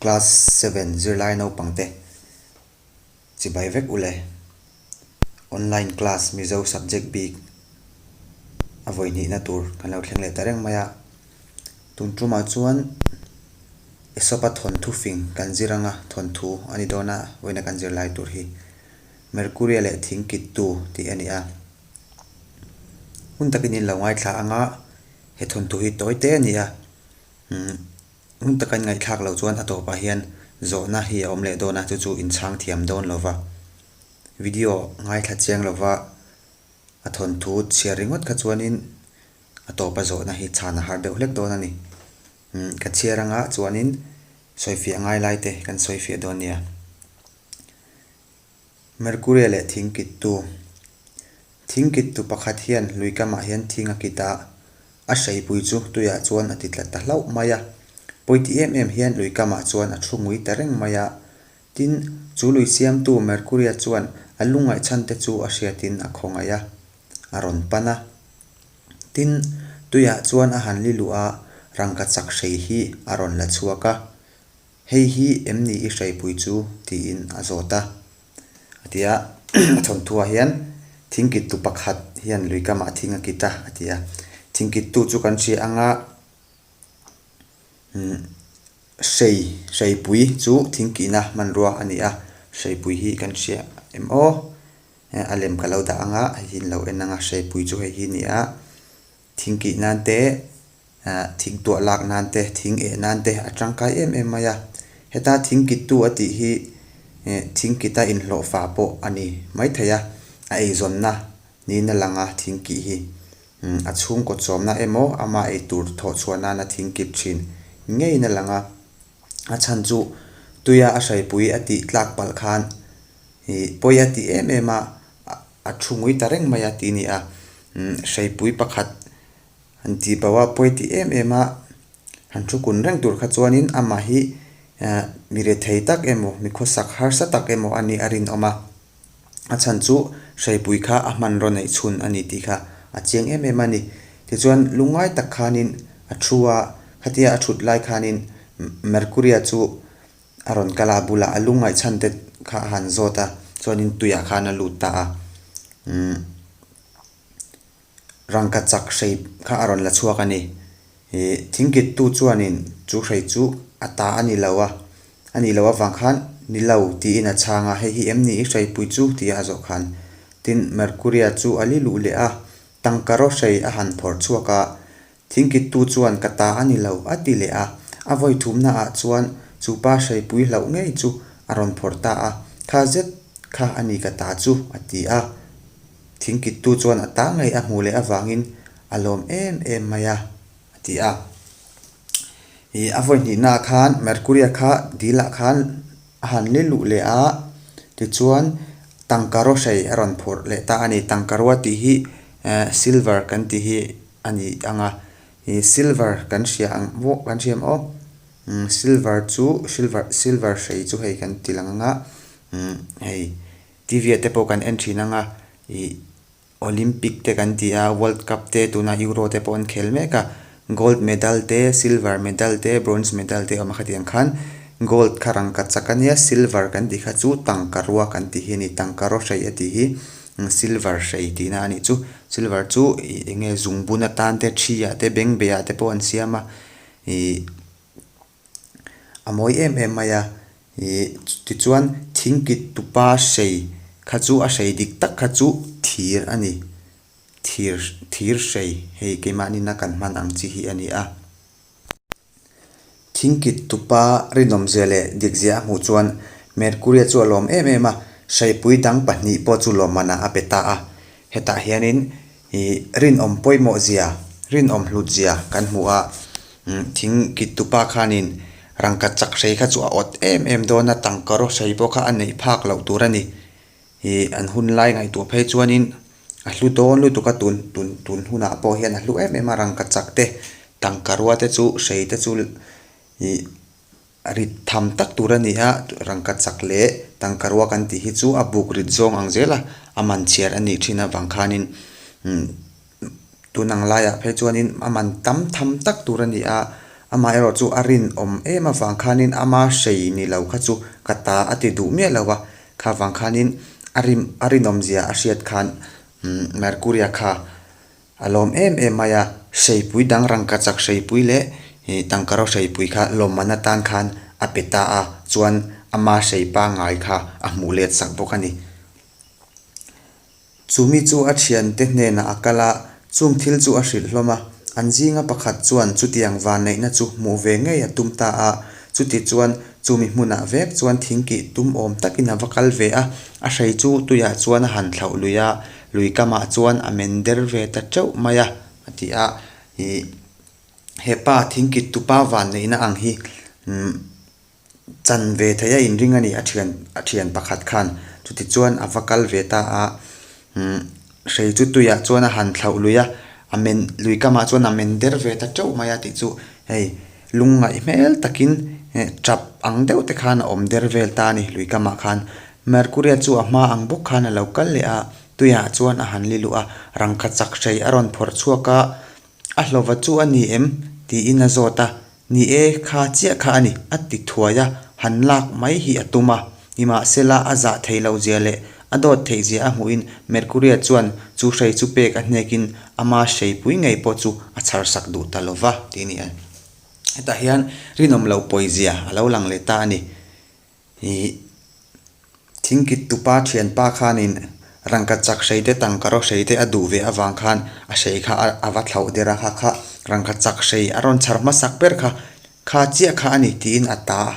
Class seven zirlai naupangte chibai vek ule, online class Mizo subject bik a vawi hnihna tur kan lo thleng leh ta reng mai a, tun tumah chuan Esopa thawnthu fing kan zir anga thawnthu a ni dawn a vawiina kan zir lai tur hi Mercury leh thing kittu tih a ni a, hun takin in lo ngaithla anga he thawnthu hi tawi te a ni a. Rum taka in ngaihthlak lo chuan a tawpah hian zawhna hi a awm leh dawn a, chu chu in chhang thiam dawn lo va. Video ngaithla chiang lova a thawnthu chhiar ringawt kha chuanin a tawpa zawhna hi chhan a har deuh hlek dawn a ni. Ka chhiar anga chuanin sawifiah ngai lai te kan sawifiah dawn nia. Mercury leh thing kittu. Thing kittu pakhat hian lui kamah hian thing a kit a, a hreipui chu tuiah chuan a ti tla ta hlauh mai a. Pawiti em em hian lui kamah chuan a thu ngui ta reng mai a. Tin, chu lui siamtu Mercury-a chuan a lungngaih chhante chu a hriatin a khawngaih a, a rawn pan a. Tin, tuiah chuan a han li luh a, rangkachak hrei hi a rawn la chhuak a. Hei hi em nih i hreipui chu? tiin a zawt a. A ti a, a chhawnthuah hian thingkittu pakhat hian lui kamah a thing a kit a, a ti a. Thingkittu chu kan hria anga umm hrei, hreipui chu thingkihna hmanrua a ni a, hreipui hi kan hria em aw. A lem ka lo dah anga hei hi in lo en anga hreipui chu hei hi a ni a. Thing kih nan te, thing tuah lak nan te, thing eh nan te a tangkai em em mai a. Heta thing kittu a tih hi thing kita inhlawh fa pawh a ni maithei a, a eizawnna niin a lang a thing kih hi. A chhungkaw chawmna emaw ama ei tur thawh chhuah nan a thing kip thin ngeiin a lang a. A chhan chu tuia a hraipui a tih tlak palh khan pawi a ti em em a, A thu ngui ta reng mai a tih ni a, hreipui pakhat han ti bo a, pawi tih em em a han thu kun reng tur kha chuanin amah hi mi rethei tak emaw, mi khawsak harsa tak emaw a nih a rinawm a, a chhan chu hreipui kha a hman raw neih chhun a ni tih kha a chiang em em a ni. Tichuan lungngai tak khanin a thu a, khatia a thut lai khanin Mercury-a chu A rawn kal a, a bulah a lungngai chhan te kha a han zawt a, chuanin tuiah khan a lut ta a. Umm rangka chak hrei kha a rawn la chhuak a ni. Ih thingkittu chuanin chu hrei chu a ta a ni lo a, a nih loh avang khan ni lo tiin a chhang a, hei hi em ni i hreipui chu? tia a zawh khan. Tin Mercury-a chu a li luh leh a, tangka rawh hrei a han phawrh chhuak a, Thingkittu chuan ka ta a ni lo a ti leh a, a vawi thumna ah chuan chu pa hreipui hlauh ngei chu a rawn phawrh ta a, kha zet kha a ni ka ta chu a ti a, Thingkittu chuan a ta ngei a hmuh leh avangin a lawm em em mai a, a ti a. Ih a vawi hnihna ah khan Mercury a kha dil ah khan a han leh luh leh a, tichuan tangka ro hrei a rawn phawrh leh ta a ni, tangka ro a tih hi eh silver kan tih hi, a ni ang a ih silver kan hria ang muah kan hria maw imm silver chu silver silver hrei chu hei kan ti lang ang a imm hei tivia te pawh kan en thin ang a ih olympic te kan ti a world cup te tunah euro te pawh an khel mek a gold medal te silver medal te bronze medal te awm a hetiang khan gold kha rangkachak a nia silver kan tih kha chu tangkarua kan tih hi a ni tangkarawhreih a tih hi. Silver hrei tihna a nih chu. Silver chu ih eng nge zung bun atan te, thi ah te, beng beh ah te pawh an siam a. Ih a mawi em em mai a. Ih tichuan thing kit tupa hrei kha chu a hrei dik tak kha chu thir a ni. Thir, thir hrei hei keimahnina kan hman ang chi hi a ni a. Thingkit tupa rinawm zia leh dik zia a hmuh chuan Mercury-a chu a lawm em em a, hreipui dang pahnih pawh chu lawmana a pe ta a. Hetah hianin ih rinawm pawimawh zia, rinawm hlut zia kan hmu a. Thingkit tupa khanin rangkat chak hrei kha chu a awt em em dawn a, tangka rawh hrei pawh kha a neih phak loh tur a ni. ih an hun lai ngaihtuah phei chuanin a hlu dawn lutuk a tun tun tun hunah pawh hian a hlu em em a rangkachak te tangkarua te chu hrei te chu ih rit tham tak tur a ni a rangkachak leh tangkarua kan tih hi chu a buk rit zawng ang zela a man chhiar a nih thin avang khanin imm-- tun ang laiah phei chuanin a man tam tham tak tur a ni a, amaherawh chu a rinawm em avang khanin ama hrei ni lo kha chu ka ta a ti duh miah lo a, kha vang khanin a rin a rinawmzia a hriat khan umm Mercury-a kha a lawm em em mai a, hreipui dang rangkachak hreipui leh ih tangkaro hreipui kha lawmman atan khan a pe ta a, chuan ama hrei pangngai kha a hmuh let sak bawk a ni. Chu mi chu a thiante hnenah a kal a, chung thil chu a hrilh hlawm a, an zinga pakhat chuan chutiang vanneihna chu hmuh ve ngei a tum ta a, chuti chuan chu mi hmunah vek chuan thing kih tum awm takin a va kal ve a, a hrei chu tuiah chuan a han thlauh lui a, lui kamah chuan a men der ve ta teuh mai a, a ti a, ih, hepa thing kit tupa vanneihna ang hi, umm. Chan ve theih a inring a ni a thian a thian pakhat khan chutichuan a va kal ve ta a umm hrei chu tuiah chuan a han thlauh lui a a men lui kamah chuan a men der ve ta teuh mai a tih chu hei lungngaih hmel takin eh ṭap ang deuh te khan a awm der vel ta a ni lui kamah khan mercury a chu a hma ang bawk khan a lo kal leh a tuiah chuan a han li luh a rangkhat sak hrei a rawn phawrh chhuak a a hlawva chu a ni em tiin a zawt a. Ni e, kha chiah kha a ni, a ti thuai a, han lak mai hi a tum a. Nimahse la, a zah thei lo zia leh a dawt thei zia a hmuhin Mercury-a chuan chu hrei chu pek a hnekin ama hreipui ngei pawh chu a chhar sak duh ta lova tih a ni a. Hetah hian rinawm lo pawizia a lo lang leh ta a ni. Hi thingkit tupa thianpa khanin rangka chak hrei te tangka ro hrei te a duh ve avang khan a hrei kha a va thlauh der a, hakha rangka chak hrei a rawn chhar hmasak ber kha kha chiah kha a ni tiin a ta a.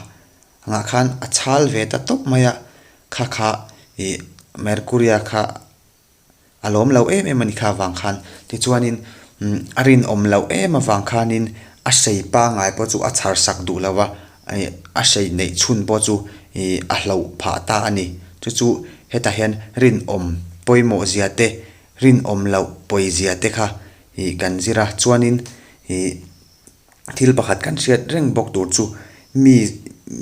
Angah khan a chhal ve ta tawp mai a, kha kha ih Mercury-a kha A lawm loh em em a ni kha vang khan. Tichuanin a rinawm loh em avang khanin a sei pangai pawh chu a chhar sak duh lo a, a sei neih chhun pawh chu a hlo phah ta a ni. Chu chu hetah hian rinawm pawimawh zia te, rinawm loh pawi zia te kha kan zir a. Chuanin ih. thil pakhat kan hriat reng bawk tur chu mi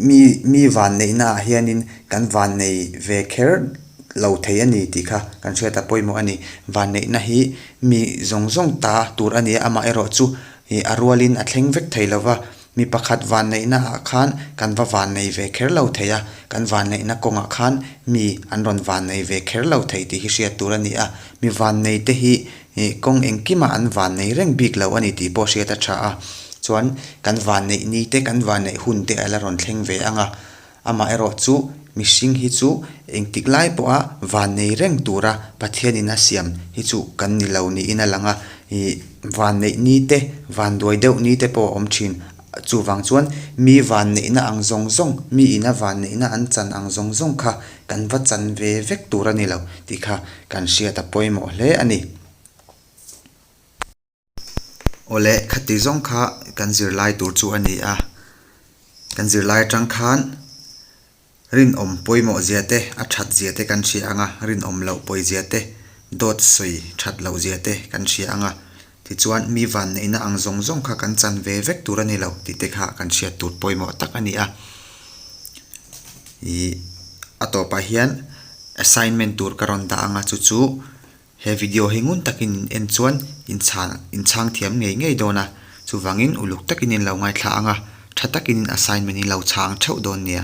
mi mi vanneihna ah hianin kan vannei ve kher lo thei a ni tih kha kan hriat a pawimawh a ni vanneihna hi mi zawng zawng ta tur a ni a amah erawh chu ih a rualin a thleng vek thei lova mi pakhat vanneihna ah khan kan va vannei ve kher lo thei a kan vanneihna kawngah khan mi an rawn vannei ve kher lo thei tih hi hriat tur a ni a mi vannei te hi-- Hi kawng engkimah an vanneih reng bik lo a ni tih pawh hriat a tha a, chuan kan vanneih ni te kan vanneih hun te a la rawn thleng ve ang a, amaherawh chu mihring hi chu engtik lai pawha vannei reng tura Pathianin a siam hi chu kan ni lo niin a lang a, ih vanneih ni te, vanduai deuh ni te pawh a awm thin. Chuvang chuan mi van neihna ang zawng zawng, mi ina van neihna an chan ang zawng zawng kha kan va chan ve vek tur a ni lo tih kha kan hriat a pawimawh hle a ni. Awle khati zawng kha kan zirlai tur chu a ni a, kan zirlai atang khan, Rinawm pawimawh zia te, a that zia te kan hria ang a, rinawm loh pawi zia te, dawt sawi that loh zia te kan hria ang a. Tichuan, mi vanneihna ang zawng zawng kha kan chan ve vek tur a ni lo tih te kha kan hriat tur pawimawh tak a ni a. Ih, a tawpah hian assignment tur ka rawn dah ang a, chu chu. He video hi ngun takin in en chuan in chhan in chhang thiam ngei ngei dawn a, chuvangin uluk takin in lo ngaithla ang a, tha takin in assignment in lo chhang theuh dawn nia.